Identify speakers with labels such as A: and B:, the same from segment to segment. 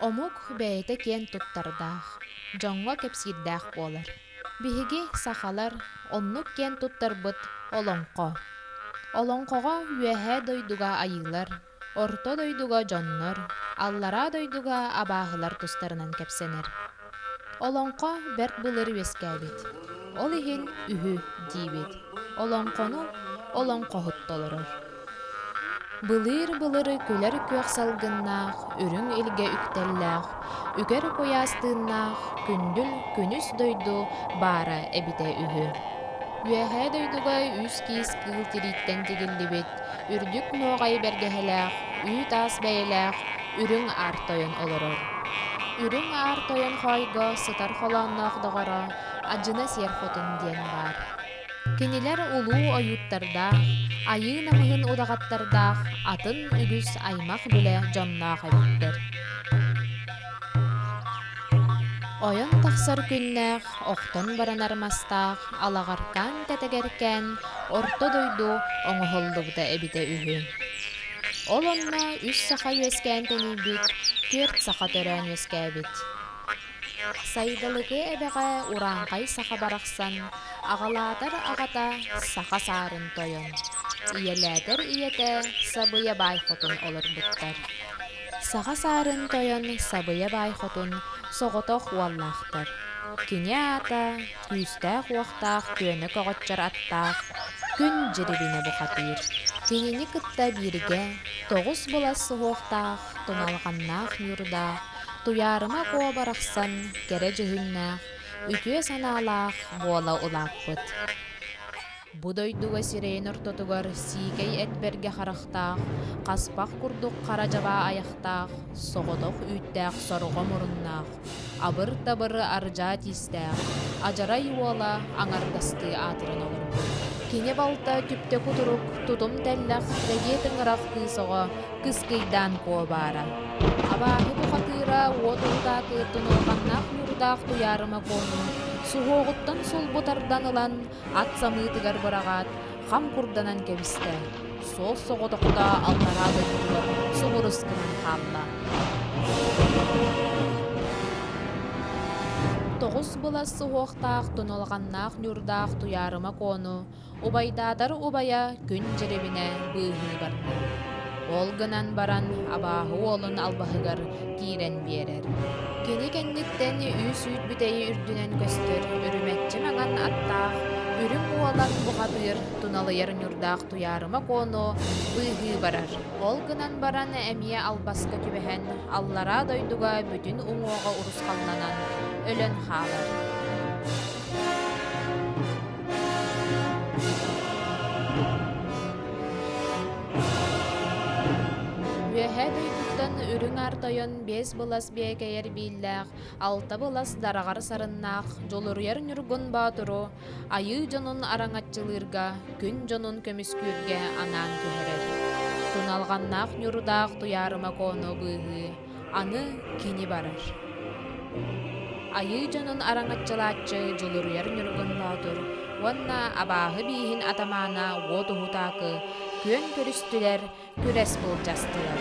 A: Омук бэйэтэ киэн туттардаах, дьоҥҥо кэпсиирдээх буолар. Биһиги, сахалар, оннук киэн туттарбыт олоҥхо. Олоҥхоҕо Үөһээ дойдуга айыылар, Орто дойдуга дьоннор, Аллараа дойдуга абааһылар тустарынан кэпсэнэр. Олоҥхо бэрт былыр үөскээбит. Ол иһин үһү диибит. Олоҥхону олоҥхоһут толорор. Былыыр-былыры күлэр күөх салгыннаах, үрүҥ илгэ үктэллээх, үкэр куйаас тыыннаах күндүл күнүс дойду баара эбитэ үһү. Үөһээ дойдуга үс-киис кыыл тирииттэн тигиллибит үрдүк нуоҕай бэргэһэлээх, үүт-аас бэйэлээх Үрүҥ Аар Тойон олорор. Үрүҥ Аар Тойон хоойго сытар холоонноох доҕоро Адьына Сиэр Хотун диэн баар. Кинилэр улуу ойууттардаах, айыы намыһын удаҕаттардаах атын үгүс аймах-билэ дьонноох эбиттэр. Ойон тахсар күннээх охтон баран армастаах алаҕартаан тэтэгэркээн орто дойду оҥоһуллубута эбитэ үһү. Ол онно үс саха үөскээн тэнийбит, түөрт саха төрөөн үөскээбит. Сайдалыкы эбэҕэ урааҥхай саха барахсан аҕалаатар аҕата саха саарын тойон, ийэлээтэр ийэтэ Сабыйа Баай Хотун олорбуттар. Саха саарын тойон Сабыйа Баай Хотун соҕотох уоллаахтар. Кини аата күүстээх-уохтаах күөнэ көҕөччөр аттаах күн дьирибинэ бухатыыр. Кинини кытта бииргэ тоҕус былас суһуохтаах туналҕаннаах ньуурдаах Туйаарыма Куо барахсан кэрэ дьүһүннээх, үтүө санаалаах буола улааппыт. Бу дойдуга сирэйин ортотугар сиикэй эт бэргэ харахтаах, хаспах курдук хара дьабаа айахтаах, соҕотох үүттээх сорҕо муруннаах, абыр-табыры ардьаа тиистээх, адьарай уола аҥардастыы аатыран олорбут. Кини балта түптэ кутурук, тутум тэллэх, рэгиэ тыҥырах кыыс оҕо, кыскыйдаан куобаара. Абааһы бухатыыра уот урутаатыттан улаханнаах ньуурдаах Туйаарыма Куоҥун суһуоҕуттан сулбу тардан ылан, ат самыытыгар быраҕаат, хам курданан кэбистэ, суол соҕотохтоо аллараа дойдутугар субурус гынан хаалла. Тоҕус былас суһуохтаах туналҕаннаах ньурдаах туйаарыма коону убайдаатар убайа күн дьирибинэ быыһыы барда. Ол гынан баран абааһы уолун албаһыгар киирэн биэрэр. Кини кэнниттэн үс үүт бүтэйи үрдүнэн көстөр үрүмэччи маҥан аттаах, үрүҥ уолан буҕатыыр, туналыйар ньурдаах туйаарыма куону быыһыы барар. Ол гынан баран эмиэ албаска түбэһэн, аллараа дойдуга бүтүн уҥуоҕа урусхалланан өлөн хаалар. Үөһээ дойдуттан үрүҥ аар тойон биэс былас биэкэйэр бииллээх, алта былас дараҕар сарыннаах Дьулуруйар Ньургун Боотуру айыы дьонун араҥаччылыырга, күн дьонун көмүскүүргэ анаан түһэрэр. Суналҕаннаах Ньурдаах Туйаарыма Коону быыһыы Аны кини барар. Айыы дьонун араҥаччылааччы Дьулуруйар Ньургунноотур уонна абааһы бииһин атамаана уот уһутаакы күөн көрүстүлэр, күрэс былдьастылар.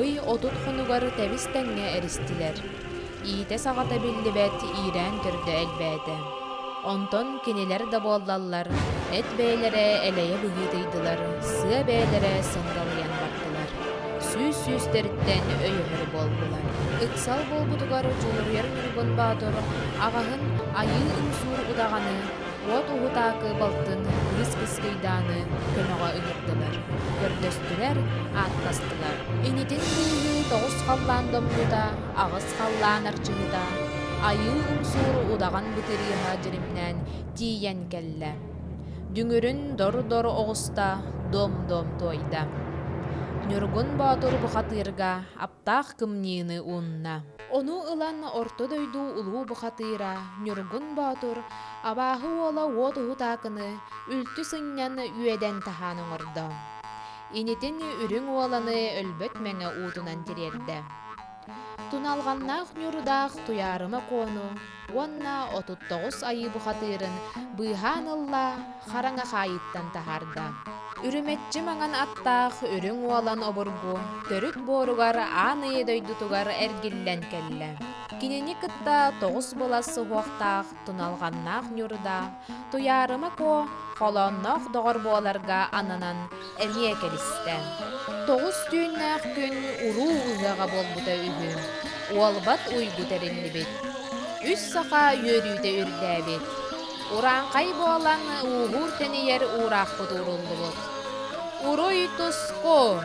A: Ый отут хонугар тэбис-тэҥҥэ эристилэр. Иитэ-саҕата биллибэт иирээн төрдө элбээтэ. Онтон кинилэр да буоллаллар, эт бэйэлэрэ элэйэ быһыытыйдылар, сыа бэйэлэрэ сыҥыралыйан бардылар. Сүүс сүүстэриттэн өйөһөр буоллулар. Ыксал буолбутугар дьулуруйар ньургун боотур аҕаһын айыы-ымсуур удаҕаны Уот уһутаакы балтын кырыс-кыскыйдааны көмөҕө ыҥырдылар, көрдөстүлэр, ааттастылар. Инитин быыһыы тоҕус халлаан домнута, аҕыс халлаан арчыһыта, Айыы Умсуур удаҕан бытырыыһа дьиримнээн тиийэн кэллэ. Дүҥүрүн дор-дор оҕуста, дуом-дуом туойда. Ньургун Боотур бухатыырга таах кымньыыны уунна. Ону ылан Орто дойду улуу бухатыыра Ньургун Боотур абааһы уола уот уһутаакыны үлтү сынньан үөдэн таһаан оҥордо. Инитин үрүҥ уоланы өлбөт мэҥэ уутунан тириэрдэ. Туналҕаннаах Ньурудаах Туйаарыма Куону уонна отут тоҕус айыы бухатыырын быыһаан ылла, хараҥа хаайыыттан таһаарда. Үрүмэччи маҥан аттаах үрүҥ уолан обургу төрүт буоругар аан ийэ дойдутугар эргиллэн кэллэ. Кинини кытта тоҕус былас суһуохтаах туналҕаннаах Ньурда Туйаарыма Куо холоонноох доҕор буоларга ананан эмиэ кэбистэ. Тоҕус түүннээх күн уруу ыһыаҕа буолбута үһү. Уолбат уйгу тэриллибит. Үс саха үөрүүтэ үрдээбит. Урааҥхай буолан ууһуур-тэнийэр уураахпыт ууруллубут. Уруй Тускун!